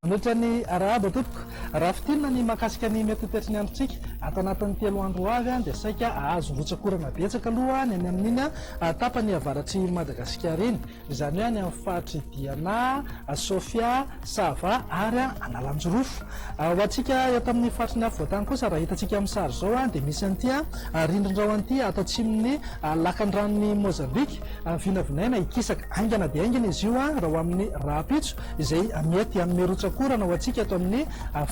Manohitra ny arahaba tompoko. Raha fitinina ny mahakasika ny mety ho toetry ny androntsika ato anatin'ny telo andro ho avy dia saika hahazo rotsak'orana betsaka aloha ny any amin'iny tapany avaratr'i Madagasikara iny. izany hoe any amin'ny faritr'i Diana, Sofia, Sava ary Analanjirofo. Ho antsika eto amin'ny faritry ny afovoan-tany kosa, raha hitantsika amin'ny sary izao, dia misy an'ity rindrin-drano an'ity ato atsimon'ny lakan-dranon'i Mozambika. Vinavinaina hikisaka haingana dia haingana izy io raha ho amin'ny rahampitso, izay mety hanome rotsak'orana ho antsika eto amin'ny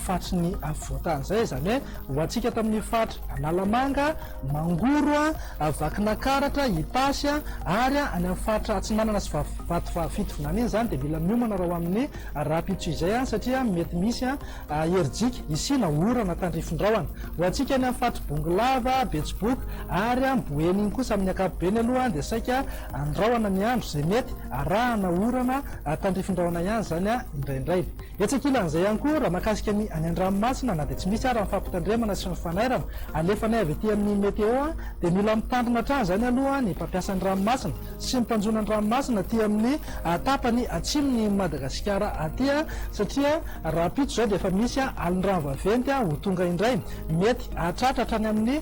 faritry ny afovoan-tany izay, izany hoe ho antsika eto amin'ny faritra Analamanga, Mangoro a, Vakinankaratra, Itasy a, ary any amin'ny faritra Atsinanana sy Vatovavy-Fitovinany iny izany dia mila miomana raha ho amin'ny rahampitso izay satria mety misy herijika hisiana orana tandrifin-drahona. Ho antsika any amin'ny faritr'i Bongolava, Betsiboka ary Boeny iny kosa amin'ny ankapobeny aloha dia saika andrahona ny andro izay mety arahana orana tandrifin-drahona ihany izany indraindray. Etsy ankilan'izay ihany koa, raha mahakasika ny any an-dranomasina, na dia tsy misy ara ny fampitandremana sy ny fanairana alefanay avy ety amin'ny Meteo, dia mila mitandrina hatrany izany aloha ny mpampiasa ny ranomasina sy ny mpanjono ny ranomasina aty amin'ny tapany atsimon'i Madagasikara aty, satria rahampitso izao dia efa misy alin-drano vaventy ho tonga indray, mety hahatratra hatrany amin'ny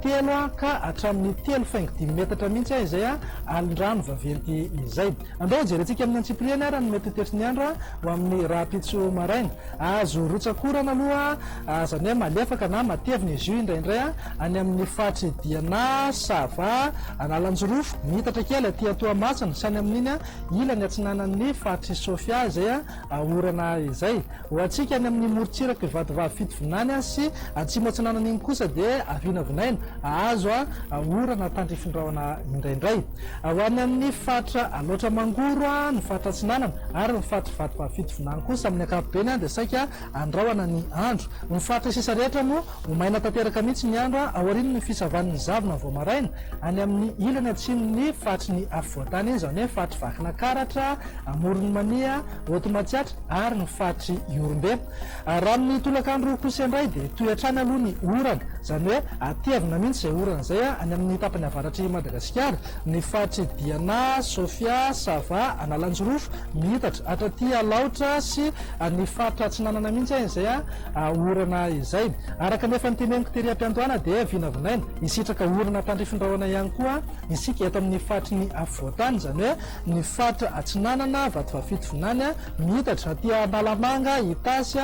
telo ka hatramin'ny telo faingo dimy metatra mihitsy izay alin-drano vaventy izay. Andao hojerentsika amin'ny antsipiriany ary ny mety ho tefin'ny andro ho amin'ny rahampitso maraina. Azo rotsakorana aloha izany hoe malefaka na matevina izy io indraindray any amin'ny faritry Diana, Sava, Analanjirofo, miitatra kely aty Toamasina sy any amin'iny ilany atsinanan'ny faritry Sofia izay. Aorana izay, ho antsika any amin'ny morontsirak'i Vatovavy Fitovinany sy Atsimo Atsinanana iny kosa dia avinavinaina, ahazo orana tandrifin'ny rahona indraindray. Ho any amin'ny faritra Alaotra Mangoro, ny faritra Atsinanana ary ny faritr'i Vatovavy Fitovinany kosa amin'ny ankapobeny dia saika andrahona ny andro. Ny faritra sisa rehetra moa ho maina tanteraka mihitsy ny andro aorian'ny fisavan'ny zavona vao maraina, any amin'ny ilany atsimon'ny faritry ny afovoantany, izany hoe faritr'i Vakinakaratra, Amoron'i Mania, Haute Matsiatra ary ny faritr'i Ihorombe. Raha amin'ny tolakandro kosa indray dia hitohy hatrany aloha ny orana, izany hoe hatevina mihitsy izay orana izay any amin'ny tapany avaratr'i Madagasikara, ny faritr'i Diana, Sofia, Sava, Analanjirofo, Miitatra, hatraty Alaotra sy ny faritra atsinanana mihitsy izay orana izay. Araka ny efa noteneniko tery am-piandohana dia vinavinaina hisitraka orana tandrifin-drahona ihany koa isika eto amin'ny faritry ny afovoan-tany, izany hoe ny faritra Atsinanana, Vatovafidy vinany, miitatra aty Analamanga, Itasy,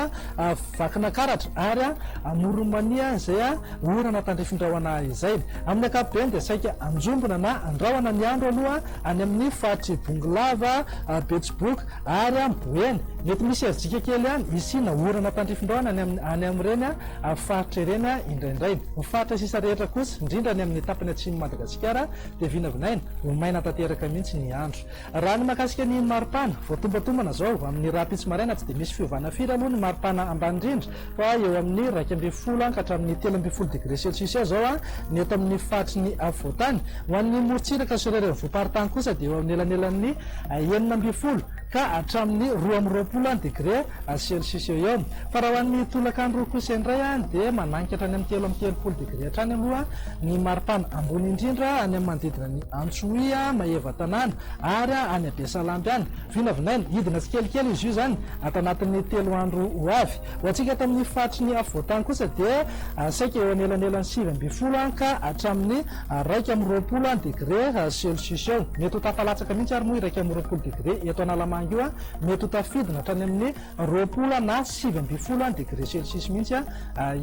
Vakinakaratra ary Amoron'i Mania izay orana tandrifin-drahona izay. Amin'ny ankapobeny dia saika anjombona na andrahona ny andro aloha any amin'ny faritr'i Bongolava, Betsiboka ary Boeny. Mety misy herijika kely ihany hisiana orana tandrifin-drahona any amin'ireny faritra ireny indraindray. Ny faritra sisa rehetra kosa, indrindra any amin'ny tapany atsimon'i Madagasikara, dia vinavinaina ho maina tanteraka mihitsy ny andro. Raha ny mahakasika ny maripana, voatombantombana izao amin'ny rahampitso maraina tsy dia misy fiovana firy aloha ny maripana ambany indrindra fa eo amin'ny iraika ambin'ny folo ka hatramin'ny telo ambin'ny folo degré celsius eo izao ny eto amin'ny faritry ny afovoantany. Ho an'ny morontsiraka sy ireo renivohi-paritany kosa dia eo anelanelan'ny enina ambin'ny folo ka hatramin'ny roa amby roapolo any degre celcius eo eo, fa raha ho an'ny tolakandro kosa indray dia manangy ka hatrany amin'ny telo amby telopolo degre hatrany aloha ny maripana, ambony indrindra any amin'ny manodidina an'i Antsohihy, Maevatanàna ary any Besalamby any, vinavinaina hidina tsikelikely izy io izany ato anatin'ny telo andro ho avy. Ho antsika eto amin'ny faritry ny afovoan-tany kosa dia saika eo anelanelan'ny sivy ambin'ny folo ka hatramin'ny iraika amby roapolo degre celsius eo. Mety ho tafalatsaka mihitsy ary moa iraika amby roapolo degre eto Analamanga io, mety ho tafidina hatrany amin'ny roapolo na sivy ambin'ny folo degre celsius mihitsy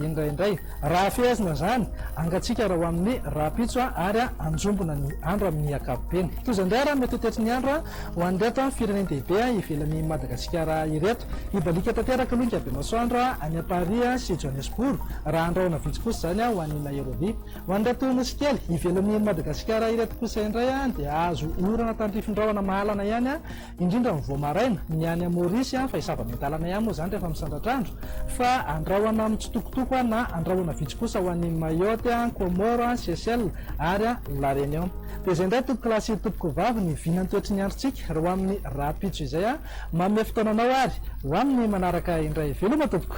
indraindray. Raha fehezina izany, angantsika raha ho amin'ny rahampitso ary hanjombona ny andro amin'ny ankapobeny. Toy izay indray ary mety ho tetry ny andro Ho an'ireto firenen-dehibe ivelan'i Madagasikara ireto, hibaliaka tanteraka aloha ny Kabemasoandro any Paris sy Johannesbourg, raha handrahona vitsy kosa izany ho any Nairobi. Ho an'ireto nosy kely ivelan'i Madagasikara ireto kosa indray dia hahazo orana tandrifin-drahona mahalana ihany, indrindra mivoha maraina, ny any Maurice, fa zava-miandalana ihany moa izany rehefa misandratra andro, fa handrahona mitsitokotoko na handrahona vitsy kosa ho any Mayotte, Comores, Seychelles ary La Réunion. Dia izay indray tompoko lahy sy tompoko vavy ny vina ny toetry ny androntsika raha ho amin'ny rahampitso izay aho manome fotoana anao ary ho amin'ny manaraka indray veloma tompoko.